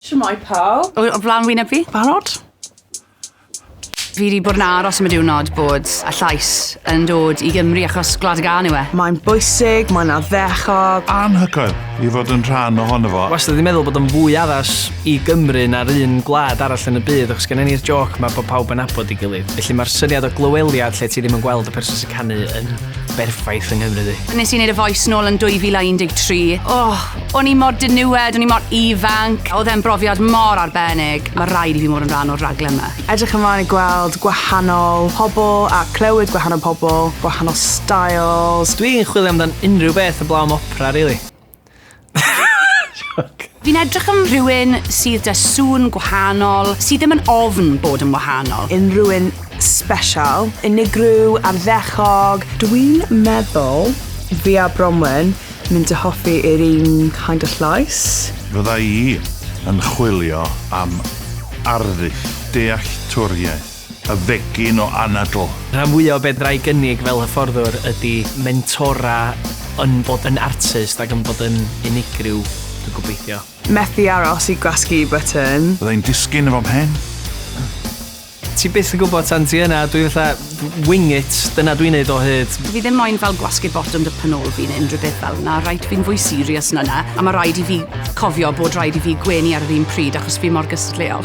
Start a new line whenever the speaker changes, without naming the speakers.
Shwmae pawb. O, o flan wyneb fi. Barod? Fi wedi bod yn aros am y diwrnod bod y llais yn dod i Gymru achos Gwlad y Gân yw e. Mae'n bwysig, mae'n addechog. Anhygoel i fod yn rhan ohono fo. Wastad wedi meddwl bod o'n fwy addas i Gymru na'r un gwlad arall yn y byd achos gennym ni'r jôc 'ma bod pawb yn nabod ei gilydd. Felly mae'r syniad o glyweliad lle ti ddim yn gweld y person sy'n canu yn berffaith yng Nghymru ddi. Nes i neud y voice nôl yn 2013. Oh, o'n i mor diniwed, o'n i mor ifanc. Oedd e'n brofiad mor arbennig. Mae rhaid i fi mod yn rhan o'r raglen yma. Edrych ymlaen i gweld gwahanol pobl a clywed gwahanol pobl, gwahanol styles. Dwi'n chwilio amdan unrhyw beth heblaw am opera rili. Fi'n edrych am rhywun sydd 'da sŵn gwahanol, sydd ddim yn ofn bod yn wahanol. Unrhyw un special, unigryw, arddechog. Dwi'n meddwl fi a Bronwen mynd i hoffi yr un kind of llais. Fydda i yn chwilio am arddull dealltwriaeth. Y fegin o anadl. Rhan fwya o be fedra i gynnig fel hyfforddwr ydi mentora yn bod yn artist ac yn bod yn unigryw, dwi'n gobeithio. Methu aros i gwasgu button. Fydda i'n disgyn efo mhen. Ti byth yn gwybod tan ti yna, dwi fatha wing it, dyna dwi'n neud o hyd. Fi ddim moyn fel gwasgu botwm dy pen ôl fi neu unrhyw beth fel 'na, reit, fi'n fwy serious na 'na, a ma' raid i fi cofio bod raid i fi gwenu ar yr un pryd achos fi mor gystadleuol.